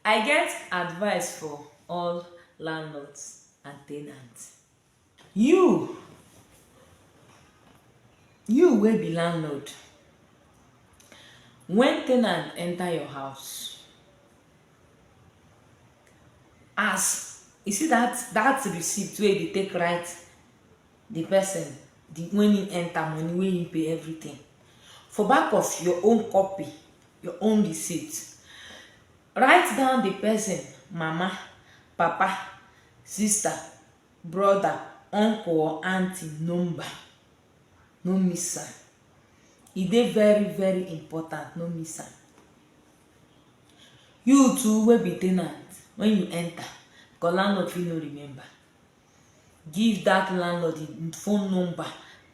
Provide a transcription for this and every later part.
I get advice for all landlords and tenants. You you wey be landlord, when tenant enter your house, as you see that that receipt wey you take write the person the when he enter money wey he pay everything for back of your own copy your own receipt. Write down the person, mama, papa, sister, brother, uncle or aunty number. No miss am. E dey very very important, no miss am. You too wey be ten ant, when you enter, because landlord fit no remember, give that landlord him phone number,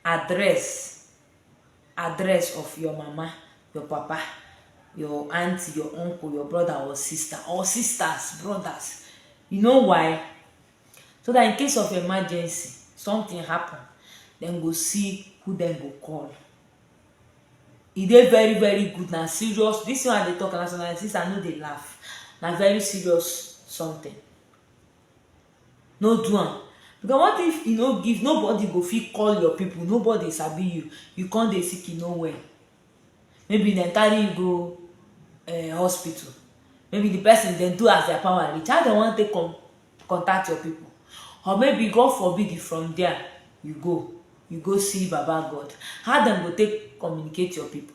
address, address of your mama your papa your aunty your uncle your brother or sister or sisters brothers you know why so that in case of emergency something happen dem go see who dem go call e dey very very good na serious this one i dey talk na so my sister no dey laugh na very serious something no do am because what if you no give nobody go fit call your people nobody sabi you you come dey sick you no well maybe dem carry you go uh, hospital maybe the person dem do as their power reach how dem wan take con contact your people or maybe god forbid if from there you go you go see baba god how dem go take communicate your people